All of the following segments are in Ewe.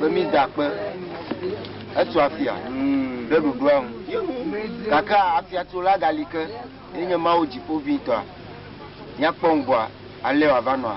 Be mi da kpe etu afia ɖe ɖoɖoa ŋu gake afiatsola gali ke enye Mawu dziƒoʋĩtɔa. Míakpɔ ŋgɔa alea wòava nɔa?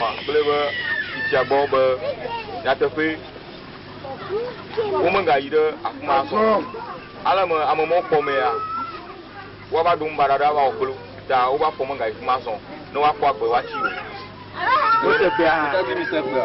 Ma kple be fifia gbɔ be nyateƒee womegayi ɖe afi ma azɔ o. Ale me ame mawo kpɔ mea, woava ɖo ŋubaɖa aɖe ava wɔ kple wo ta woƒe afɔ megayi fi ma azɔ ne woakpɔ agbe woatsi o. Tɔgbui mi se kpea.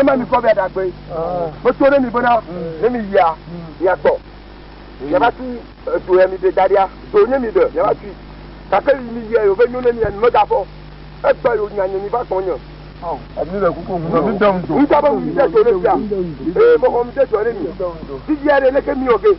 ema mi kɔ bɛ dagbe meto ɖe mi bena ne mi yia miagbɔ yaba tu edo ya mi de da ɖia do nye mi de yaba tui gake yi mi yia yòve nyo ne mi mi meda fɔ egbe yò nya nye mi va gbɔ nye. Ami le kuku ŋu mi de ŋu do. Ŋutɔ be mi de do ne fia ee mɔgɔ mi de do ne mi. Ti yia ɖe ne ke mi yɔ ge.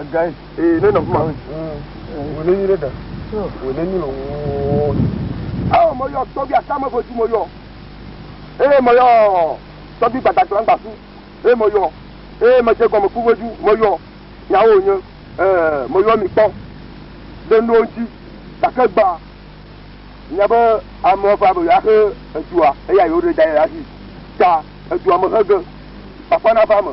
Egae. Ee, ne nɔ kuma. Wò ne nyi ɖe da. Wò ne nyi lɔ wò. Awo mɔ yɔ tɔbi aka me votu mɔ yɔ. Ee mɔ yɔ tɔbi gbadagba gbasu. Ee mɔ yɔ. Ee mɔ jẹ gɔme ku votu mɔ yɔ. Nyawo nye. Ee mɔ yɔ mi kpɔ. De nuwo ŋuti. Gake gba. Nya be amewo va be yɔa xe edua eya yewo ɖe da yɛ asi. Ta edua me xe ge. Kpakpa na va me.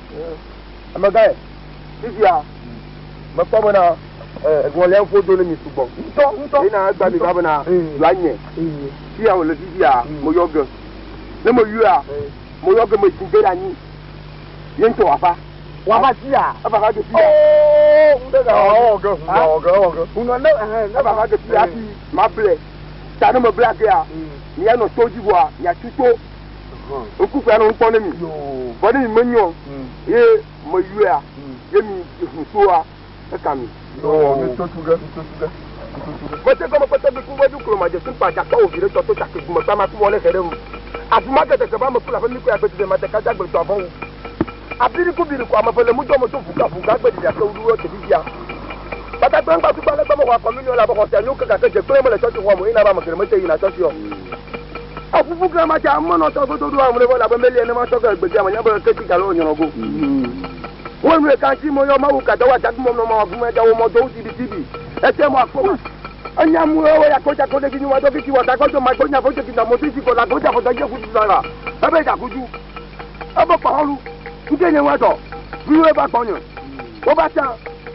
Amegãe, fifia mekpɔ bena ŋɔlia ŋu do ne mi sugbɔ ŋutɔ ŋutɔ yina egba mi va bena yɔa nye fia wòle fifia meyɔ ge ne meyɔa meyɔ ge metsi de ɖe anyi ye ŋutɔ wòava wòava fia eva va ge fia ŋunɔ ne eva va ge fia hafi mable ta ne mebla gea mianɔ to dzi vɔa miatu to ŋku kpea nɔ ŋkpɔ ne mi vɔ ne mi me nyɔ ye me yɔea ye mi ŋu soa eka mi. Gbɔdze gɔme kpɔtɔ bi ku wɛdu klo ma dze sinkpa dza kpɔ ovi ɖe tɔ to take gume kpa ma ku wɔ ne hɛ ɖe ŋu. Afi ma ke deke ba me ku la ƒe mi ku ya gbedzi ɖe ma te ka dza gbe tɔ avɔ wu. Abiriku biriku ame eve le mudɔ me do vuga vuga gbe ɖiɖi ake wuɖuɖu eke bibia. Tata gblẽ gba tukpa legbe mexɔa kɔminio le abe xɔ sia nyo ke gake dze gblẽ mele tsɔtsi xɔa me yina be ame geɖe mete yina tsɔtsi o. Eƒuƒu gã ma tsa ame nɔ tɔ godo ɖo amle vɔ labe meli ene ma tsɔ ge egbedia me nya be eke ti galo o nyɔnɔ go. Wo nue kan tsi mo yɔ mawu kada wo adadu mɔ nɔ mawa vu me da wo mɔ do wo tibi tibi. Ete mo akpɔ ma. Enya mu wo ya ko ja ko ɖe gi nyi wa do ki tsi wa da gɔdo ma do nya vojo ki da mo tsi tsi ko la go ja ko da je ku tsi la la. Ebe ja ku ju. Ebe kpɔxɔlu ŋkee nye ŋuadɔ vloe va gbɔnye. Wova tsã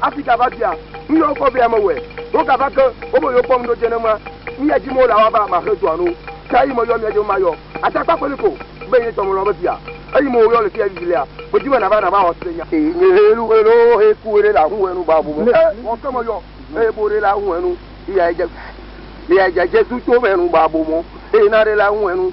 afi gava bia nu yɔ wokɔ vɛ amewɔe. Wogava ke wobe yewokpɔ nu ɖo dze nenema nu ya dim wole woava maxe dɔa no. Ke eyi meyɔ mia dze be mayɔ atakpa kpeli ko be nye tɔ melɔ̃ be via eyi me woyɔ le fiya vivi lea medi be nava nava xɔse nya. Eye nye helu helo he ku ɖe le ahuhɔenu ba bu me. Ke wɔ ke meyɔ eye bo ɖe le ahuhɔenu eya edze eya edze Jesu to me nu ba bo mo eye na ɖe le ahuhɔenu.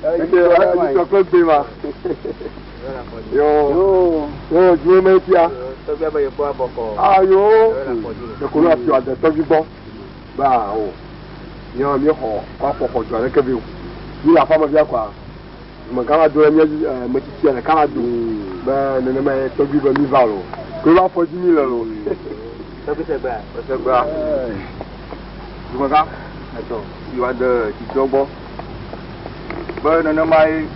Eke wa ti sɔ kple gbe ma. Yo. Yo due me tia. Tɔgbia be yekpɔ abɔkɔ. Ayo. Ekolo afi ade tɔgbi gbɔ. Ba o. Yo mi xɔ kɔ afɔkɔ jɔ ɖeke bi o. Mi le aƒa me bia kɔa. Me gã va do mi eh, me tsitsi le kala do. Be nenema ye tɔgbi be mi va lo. Kolo afɔ dzi mi le lo. Tɔgbi se gbea. Se gbea. Dumeka. Eto. Iwa de titɔ gbɔ. be nenemae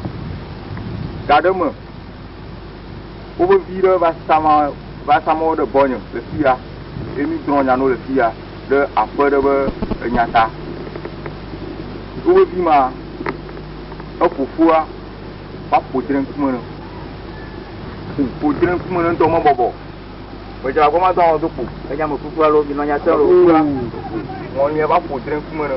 gaɖe me woƒe vi ɖe va sama va sama wo ɖe gbɔnye le fi ya ye mi drɔ̃ nya no le fi ya ɖe aƒe ɖe be enya ta woƒe vi ma eƒoƒua va ƒo dre ŋkume ne ƒo dre ŋkume ne ŋutɔ mebɔbɔ gbedze agbɔ ma do awɔ do ƒo enya me kuku alo mi nɔ nya te lo kura mɔnyɛ va ƒo dre ŋkume ne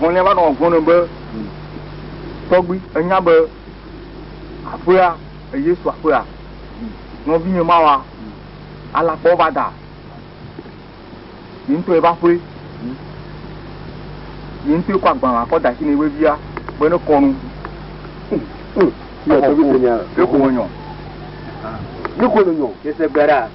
Ŋlɔ̃nɛ va nɔ gblɔm nɛ be, Tɔgbui, ènya be aƒea eye su aƒea nɔvinye mawa alakpawo va da yeŋtɔ yebe aƒe. Yeŋtɔe kɔ agbalẽa kɔ da shi nɛ be, Via, be ne kɔ nu o, exɔ ko, ye ko nɔ nyɔ. Ye ko nɔ nyɔ. Yese gbe ɖa.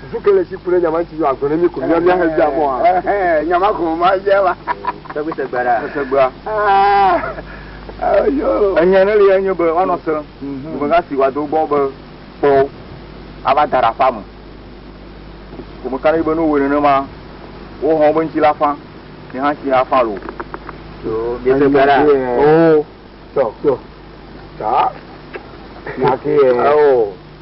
Susu ke le si ku ɖe nyama ŋuti yɔ agblɔ ne mi ko mia mia he dzea mɔ ha. Nyama ko ma dze wa. Tɛgbi se gbe ɖa. Se gbea. Enya ne le enye be wanɔ se. Ŋgbe ka si wa do gbɔ be kpɔ ava da ɖa fa me. Ko me ka ne be no wo nene ma wo hɔn be ŋuti la fa. Ne ha si afa lo. So bi se gbe ɖa. Oh. Tɔ tɔ. Ta. Nyaki. Oh.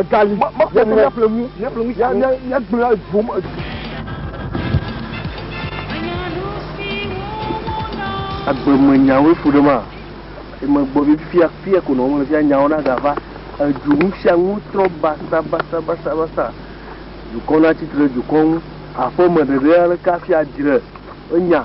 Egali. Mekpɔ mɔ. Míaƒle nu. Míaƒle nu. Míagblẽ edzo. agbeme nyawo efu ɖe ma emegbɔ bi fia fia ko nɔ le fia nyawo na gava edu nu sia nu trɔ basa basa basa basa dukɔ na tsitre dukɔ ŋu aƒeme ɖeɖe aleke afia dzre enya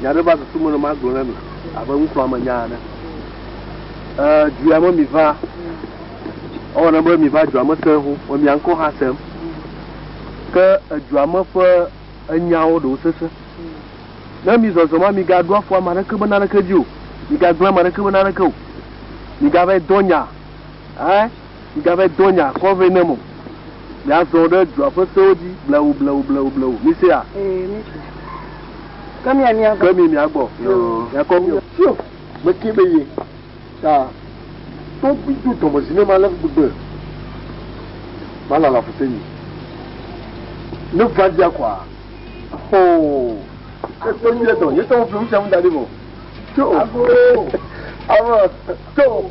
Nya aɖe va susu me ne magblɔ na mi abe ŋkuamenya ene. Ee, dua me miva. Ewɔ ne be miva dua me sẽŋ, me mia ŋkɔ hã sẽŋ. Ke edua me ƒe enyawo ɖewo sesẽ. Ne mi zɔzɔm la, migaɖo afɔ ame aɖeke be naneke dzi o. Migagblẽ ame aɖeke be naneke o. Migava yi dɔ nya. Ɛ? Migave dɔ nye akɔ vɛ nam o. Miazɔ ɖe dua ƒe sewo dzi blewu, blewu, blewu, blewu. Misea? Ee, mise. Ke mia mia gbɔ. Ke mi mia gbɔ. Miakɔ mi o. Sio, meke be ye ta to bi do dɔme zi ne ma le gbegbe ma la la fuse nyi. Ne va dia kwa. Hoo. Ke to nye dɔ, nye tɔwo flewu sia mu da di mo. Sio. Abo. Abo. Sio.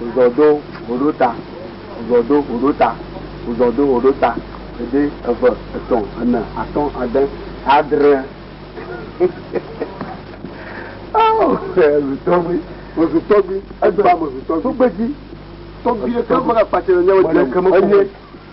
Wozɔ do woɖo ta, wozɔ do woɖo ta, wozɔ do woɖo ta, ɖe, eve, etɔ̃, ene, atɔ̃, ade, adre. Oh, zutɔgbi, me zutɔgbi, edra me zutɔgbi. Tugbedzi, tɔgbi, ekema kpatsi le nyawo dzi. Enye.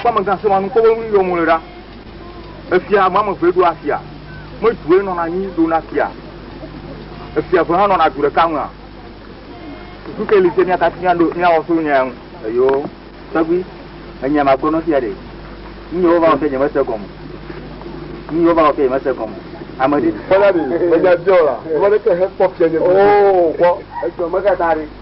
Kpɔ amegã sema nu kpɔ be nu yɔm wòle ɖa. Efia ame ame eve ɖo afia. Me due nɔna anyi ɖona fia. Efia eve hã nɔna du ɖeka mea. Susu ke li se mía katã míaɖo míawɔ so nya ya ŋu. Eyo, tɔgbui, enya ma gblɔ nɔfia ɖe. Nu yɔ wova wɔ fia nye mese gɔme. Nu yɔ wova wɔ fia nye mese gɔme. Ame ɖe. Kpɔna ɖe, menya biɔ la, ame ɖe ke he kpɔ fia nye. Oo, kpɔ, edzɔ me katã ɖe.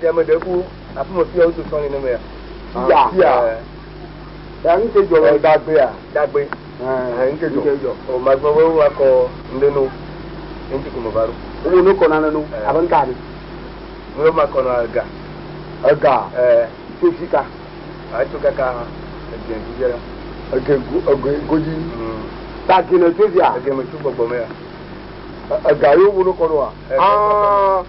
Fia me ɖe ku afi me fia wodo sɔn nene mea. Fia. Fia. Ya nu ke jɔ le dagbe a. Dagbe. Ɛɛ nu ke jɔ. Nu ke jɔ. O ma gbɔ wo wa kɔ nde no. Enti ko me va ɖo. Wo no kɔ na ne no. Abe nka ni. Wo ma kɔ na ga. Ega. Ɛɛ. Tso sika. A tso kaka ege gu jɛ la. Ege gu ege goji. Ta gene tso via. Ege me tso gbɔgbɔ me ya. Ega yo wo no kɔ no a. Aa.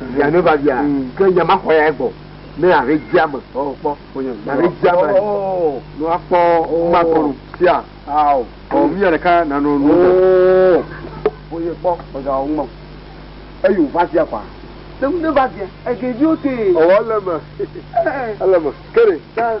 via ne va via ke nya ma xɔ ya egbɔ ne ahe dzia me ɔ kpɔ ahe dzia me ne akpɔ ma kɔ no sia awo ɔ via ɖeka nanɔ nu oye kpɔ ɔga wo ŋmɔ eyo va via kpa ne ne va via ege vio te ɔwɔ le me ele me kere ta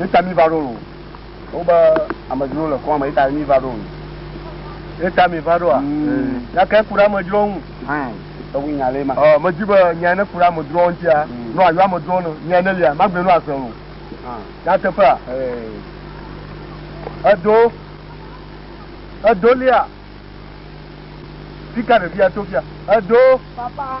Eta mi va ɖo lo. Wobe amedzro le kɔn me eta mi va ɖo lo. Eta mi va ɖoa. Nyake ku ɖe amedzro ŋu. Ewu nya le ma. Ɔ medzi be nya ne ku ɖe amedzro ŋutia. No ayo amedzro no. Nya ne lia magbe no ase lo. Nyateƒea. Edo edo lia. Fika ɖevia to fia. Edo. Papa.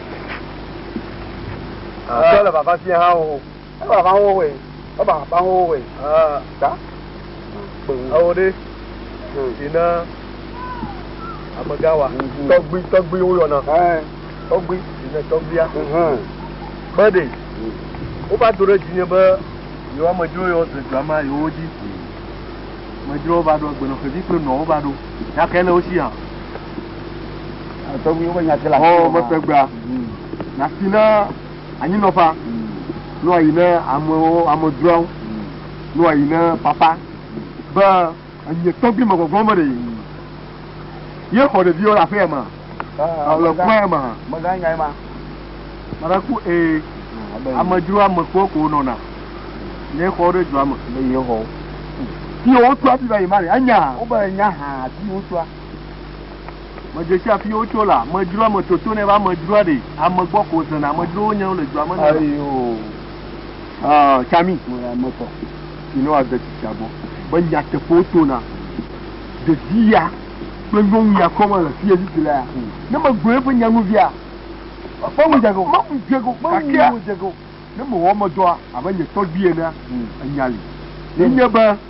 Sɔ le vava fia hã o. E vava wo we. E vava wo we. Ah, ta. Awo de. Ina amega wa. Tɔgbi tɔgbi wo yɔna. Eh. Tɔgbi ina tɔgbia. Mhm. Bade. Wo va do ɖe dzi nye be yewo amedzro yewo dze dua ma yewo dzi. Amedzro va ɖo agbenɔƒevi kple nɔwo va ɖo. Gake le wo si hã. Tɔgbuiwo ƒe nya te le afi Xɔ ma. metegbea, nasi na anyinɔƒea, nɔ ayi ne amewo, amedzroawo, nɔ ayi ne papa, be enye tɔgbui me gbɔgbɔ me ɖe ye xɔ ɖeviwo le aƒea ma, le kɔe ma. Mega nya ye ma. Mara ku ee, amedzro amekpɔ ko nɔna, ne xɔ ɖe dua me. Ne ye xɔ. Ti wotua ti va yi ma ɖe, enya. Wobe nya ha ti wotua. Medze si afi wotso la, amedzroa me toto ne va amedzroa ɖe ame gbɔ ko zena amedzrowo nye wole dua me ne. Ayo. Ah, Chami, moya metɔ. You know ade tsitsia gbɔ. Be nyateƒewo tona. Ɖevi ya kple nyɔnu ya kɔme le fi yezi la ya. Ne megblɔ eƒe nyanuvia. Ƒe mu dzego. Ƒe mu dzego. Ƒe mu dzego. Ne mewɔ medɔa abe nye tɔgbui enea, enya li. Yenye be.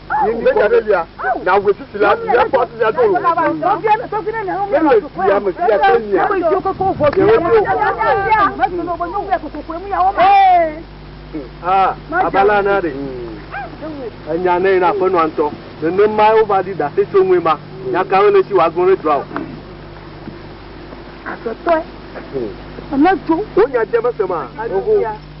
Míekpɔ be Mesia nawu veviti la, míakpɔ hafi míado ŋu. Míeɖia Mesia kple mia ɖewoɖewo. Abala na ɖe enya nɛ na aƒenɔa ŋutɔ. Nenemae wova ɖi ɖase tso ŋue ma. Nya kawoe nèsi wòagblɔ ɖe dua ŋu? Aƒetɔe, ne edzo. Wò nya dze mese ma.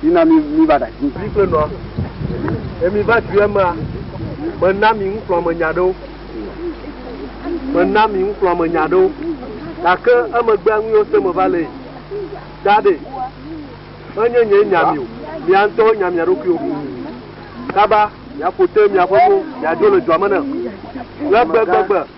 Mina mi mi va ɖa dzi. Kple nɔa, ne mi va dui emea, me na mi ŋuxlɔ me nya ɖewo. Me na mi ŋuxlɔ me nya ɖewo. Gake emegbea nu yiwo se me va le yi. Da ɖe, me nye nye nya mi o, mia ŋutɔwo nya mia ɖokuiwo. Kaba, mia ƒo te mia ƒe mo, mia dzo le dua me ne. Le gbegbe gbe.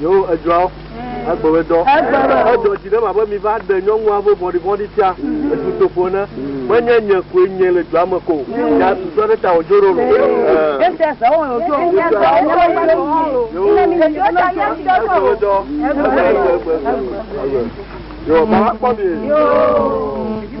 Yewo edzɔa wo egbe be dɔ. Edzɔ dzi ɖe ma be mi va ɖe nyɔnua vo vɔɖi vɔɖi tia etu toƒo ne. Me nye nye koe nye le dɔa me ko. Ya tu dɔ ɖe ta o jo ɖo lo. Ye sia sa wo o jo. Ye sia sa wo o jo. Yo. Ye sia sa wo o jo. Ye sia sa wo o jo. Yo, baba kpɔ mi. Yo. Yo.